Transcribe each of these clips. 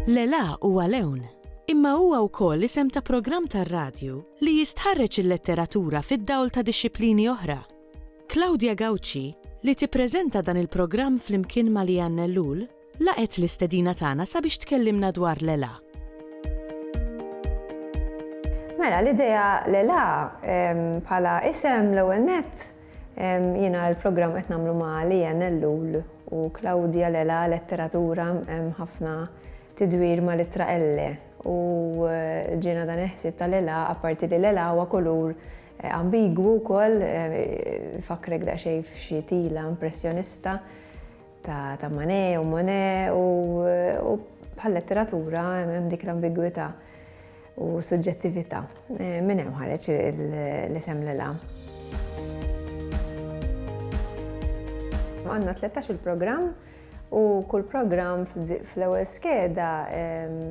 L-ELA huwa lewn, imma huwa wkoll isem ta' programm tar-radju li jistħarreġ il-letteratura fid-dawl ta' dixxiplini oħra. Claudia Gauci, li tippreżenta dan il-programm flimkien ma' Leanne Ellul, Laqgħet l-istedina tagħna sabiex tkellimna dwar l-Elà. Mela, l-idea l-Elà bħala isem l-ewwel nett jiena l-programm qed nagħmlu ma' Lian Ellul u Claudia l-Elà letteratura hemm ħafna tidwir ma' l-ittra Elle u eh, ġiena dan il-ħsieb tal-Elà apparti li l-Elà huwa kulur Eh, ambigwu wkoll, eh, fakrek daqsxejn f'xi tila impressjonista. ta' ta' Manet u Monet u u bħal-letteratura hemm dik l-ambigwità u suġġettività. Minn hemm ħareġ l-isem Lilha. Għandna tlettax-il programm u kull programm fl-ewwel skeda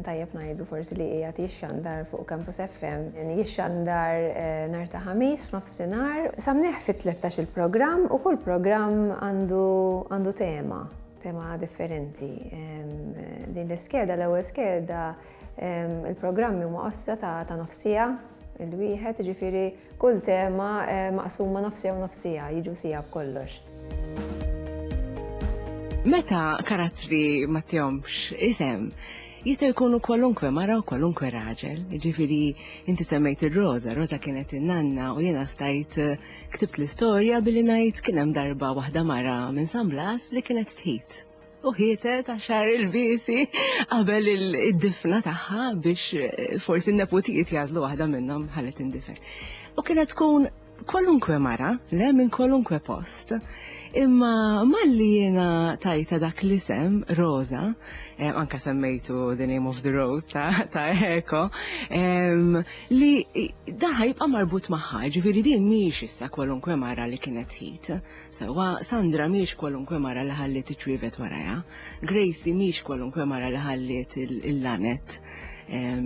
tajjeb ngħidu forsi li qiegħed jixxandar fuq Campus FM. Jixxandar nhar ta' Ħamis f'nofsinhar. Nofsinhar, sa mneħħ fit-tlettax-il programm u kull programm għandu tema, tema differenti. Din l-iskeda, l-ewwel skeda, il-programmi huma qossa ta' nofsija il-wieħed, ġifiri kull tema maqsuma nofsija u nofsija, jiġu sija b'kollox. Meta karattri ma tihomx isem, Jistgħu jkunu kwalunkwe mara u kwalunkwe raġel, jiġifieri inti semmejt ir-Roża, Roża kienet in-nanna u jiena stajt eh, ktibt l-istorja billi ngħid kien hemm darba waħda mara minn San Blas li kienet tħit u ħietet għax xahar il-biesi qabel id-difna tagħha biex eh, forsi n-neputijiet jażlu waħda minnhom ħallet tindifen. U kienet tkun kwalunkwe mara, le minn kwalunkwe post, imma malli jiena tajta dak l-isem, Rosa, eh, anka semmejtu The Name of the Rose ta', ta Eko, ehm, li daħħa jibqa' marbut magħha, ġifieri din mhijiex issa kwalunkwe mara li kienet ħid. Sewwa, Sandra mhiex kwalunkwe mara li ħalliet iċ-ċwievet warajha. Gracie mhix kwalunkwe mara li ħalliet il-laned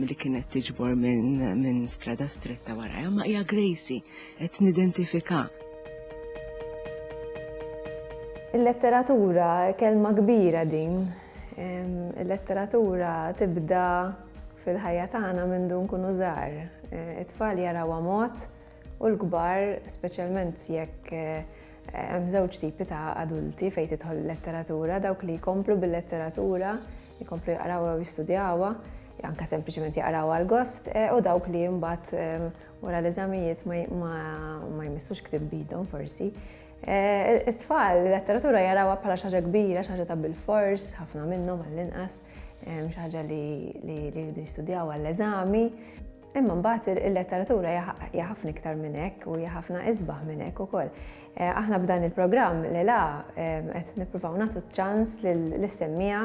li kienet tiġbor minn strada stretta warajha, imma hija Gracie, qed nidentifikha. Il-letteratura, kelma kbira din. Il-letteratura tibda fil-ħajja tagħna mindu nkunu żgħar. It-tfal jarawha mod, u l-kbar, speċjalment jekk hemm żewġ tipi ta' adulti fejn tidħol il-letteratura, dawk li jkomplu bil-letteratura, jkomplu jaqrawha u jistudjawha, anke sempliċement jaqraw għal gost, eh, u dawk li mbagħad eh, wara l-eżamijiet ma jmissux ktib bidhom forsi. Eh, it-tfal, letteratura jarawha bħala xaġa kbira, xaġa ta' bil-fors, ħafna minnhom għall-inqas, xaġa li jridu jistudjaw għall-eżami. Imma mbagħad il-letteratura hija ħafna iktar minn hekk u hija ħafna isbaħ minn hekk ukoll. Eh, aħna b'dan il-programm li la eh, qed nippruvaw nagħtu ċans lis-semmija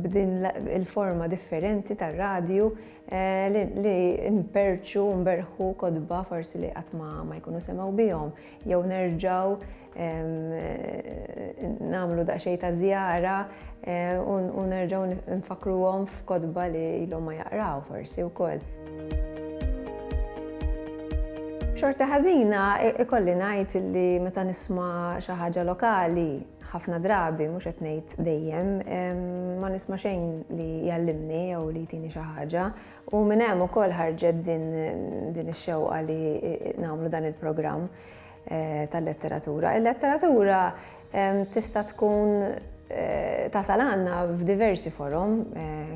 b'din il-forma differenti tar-radju eh, li imperċu, mberħu kodba forsi li qatt ma jkunu semgħu bihom jew nerġgħu nagħmlu daqsxejn ta' żjara u nerġgħu nfakkruhom f'kotba li ilhom ma jaqraw forsi wkoll. B'xorti ħażina ikolli ngħid li meta nisma' xi ħaġa lokali ħafna drabi mhux qed ngħid dejjem ma nisma' xejn li jgħallimni jew li jtini xi ħaġa u minn hemm ukoll ħarġet din ix-xewqa li nagħmlu dan il-programm. tal-letteratura. Il-letteratura tista' tkun tasal għandna f'diversi forom,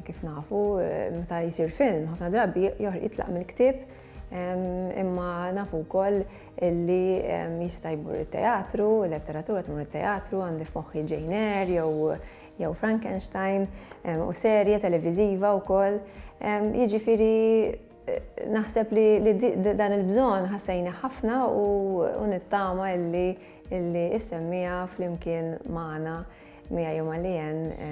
kif nafu, meta jsir film, ħafna drabi jitlaq mill-ktieb, imma nafu wkoll li jista' jmur it-teatru, il-letteratura tmur it-teatru, għandi f'moħħi Jane Eyre jew jew Frankenstein, u serje televiżiva wkoll. Jiġifieri Naħseb li dan il-bżonn ħassejnih ħafna u nittama illi illi issemmiha flimkien magħna miegħi u ma' Leanne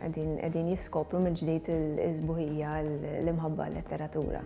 qegħdin jiskopru mill-ġdid is-sbuħija, l-imħabba għal-letteratura.